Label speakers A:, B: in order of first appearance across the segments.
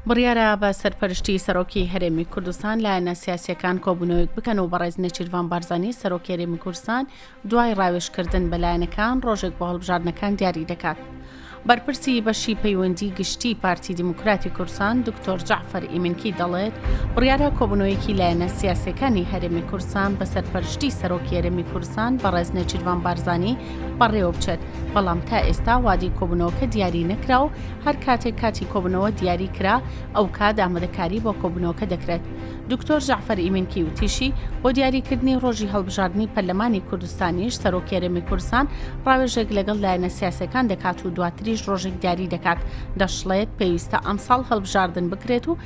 A: بڕیارە بە سەرپەرشتی سەرۆکی هەرێمی کوردستان لایەنە سیاسیەکان کۆبوونەوەیەک بکەن و بەڕێز نێچیرڤان بارزانانی سەرۆکی هەرێمی کوردستان دوای ڕاوێژکردن بە لایەنەکان ڕۆژێک بۆ هەڵبژاردنەکان دیاری دەکات. بەرپرسی بەشی پەیوەندی گشتی پارتی دیموکراتی کورسان دکتۆر جعفر ئیمنکی دەڵێت بڕیارە کۆبنەوەیەکی لایەنە سیاسەکانی هەرێمی کورسان بە سەرپەرشتی سەرۆکی هەرێمی کورسان بە ڕێزنە چیرڤان بارزانانی بەڕێوە بچێت بەڵام تا ئێستا وادی کۆبنەوەکە دیاری نەکرا و هەر کاتێک کاتی کۆبنەوە دیاری کرا ئەو کات ئامادەکاری بۆ کۆبنەوەکە دەکرێت دکتۆر جعفەر ئیمینکی وتیشی بۆ دیاریکردنی ڕۆژی هەڵبژاردننی پەرلەمانی کوردستانیش سەرۆکێرەمی کوردستان ڕاوێژێک لەگەڵ لایەنە سیاسەکان دەکات و دواتریش ڕۆژێک دیاری دەکات دەشڵێت پێویستە ئەمساڵ هەڵبژاردن بکرێت و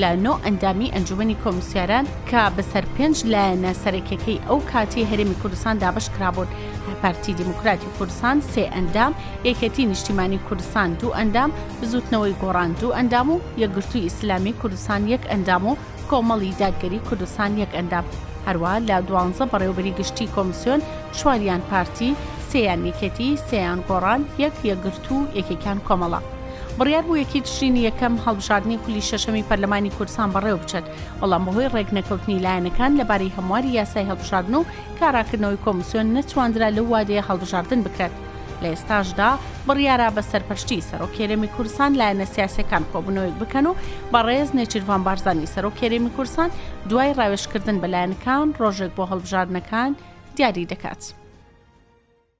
A: لە نۆ ئەندامی ئەنجومەنی کۆمسیاران کە بەسەر پێنج لایەنە سەرەکیەکەی ئەو کاتی هەرێمی کوردستان دابش کرابوون پارتی دیموکراتی کوردستان سێ ئەندام یەکەتی نیشتیمانی کوردستان دوو ئەندام بزوتنەوەی گۆڕان دوو ئەندام و یەکگرتووی ئیسلامی کوردستان یەک ئەندام و کۆمەڵی دادگەری کوردستان یەک ئەندام هەروە لە دوانزە بەڕێوبەری گشتی کۆمسیۆن چواریان پارتی سیان یەکێتی سیان گۆڕان یەک یەکگرتو یەکێکان کۆمەڵە بڕیار بوو یەکی تشرینی یەکەم هەڵبژاردنی خولی شەشەمی پەرلەمانی کوردستان بەڕێوە بچێت، بەڵام بەهۆی ڕێکنەکەوتنی لایەنەکان لەبارەی هەمواری یاسای هەڵبژاردن و کاراکردنەوەی کۆمسیۆن نەتواندرا لەو وادەیە هەڵبژاردن بکرێت. لە ئێستاشدا بڕیارە بە سەرپەرشتیی سەرۆکی هەرێمی کوردستان لایەنە سیاسییەکان کۆبوونەوەیەک بکەن و بەڕێز نێچیرڤان بارزانی سەرۆکی هەرێمی کوردستان دوای ڕاوێژکردن بە لایەنەکان ڕۆژێک بۆ هەڵبژاردنەکان دیاری دەکات.